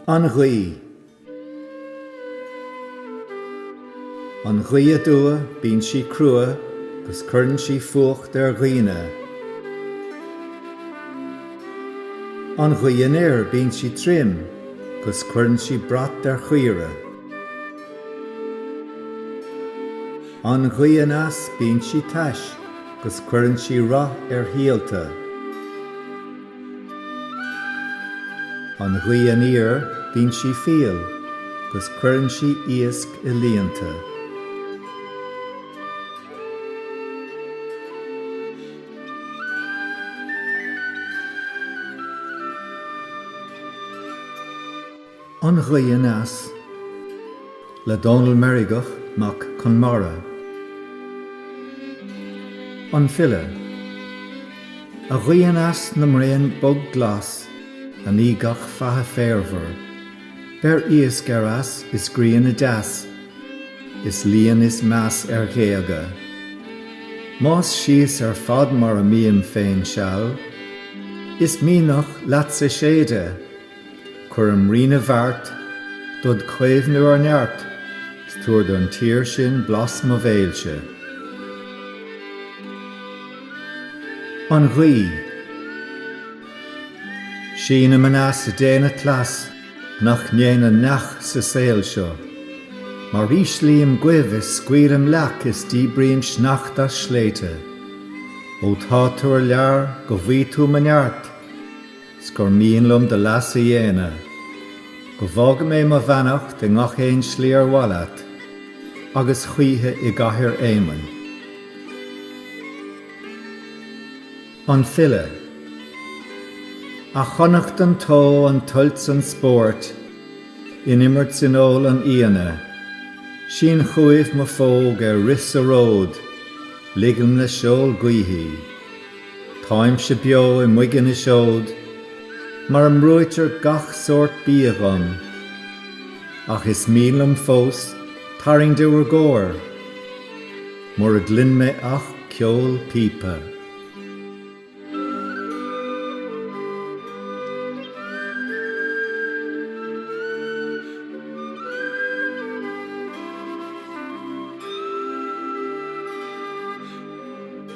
An ghaoth. An ghaoth aduaidh bíonn sí crua agus cuireann sí fuacht ar dhaoine. An ghaoth anoir bíonn sí tirim agus cuireann sí brat ar chaoirigh. An ghaoth aneas bíonn sí tais 'gus cuireann sí rath ar shíolta. An ghaoth aniar bíonn sí fial 'gus cuireann sí iasc i líonta. An Ghaoth Aneas le Dónall Meirgeach Mac Conmara, an file, A ghaoth aneas na mbraon bog glas a ní gach faiche féarmhar, beir iasc ar eas is grian i dteas is líon is meas ar ghéaga. Más síos ar fad mar a mbínn féin seal, is mianach leatsa séide. Cuirim Rí na bhFeart, dod caomhnú ar neart, 's tabhair don tír sin blas mo bhéilse. An ghaoth. Sínim aneas ag déanamh cleas nach ndéanann neach sa saol seo, Mar íslím goimh is scaoilim leac is díbrím sneachta as sléibhte, Ó tá tú ar lear go bhfuí tú mo neart, 'S gur mian liom do leas a dhéanamh, Go bhfága mé mo bheannacht i ngach aon slí ar mhaith leat, Agus choíche i gCathair Éamainn. An File. A Chonnachta an tseoid, an tsuilt 's an spóirt, In imirt 's in ól an fhíona, Sin chugaibh mo phóg ar rith sa ród, Ligim le seol gaoithe í. Táimse beo i mboige na seod mar a mbrúitear gach sórt bia dhom, ach is mian liom fós tarraing de bhur gcomhair, mura gcluin mé ach ceol píopa.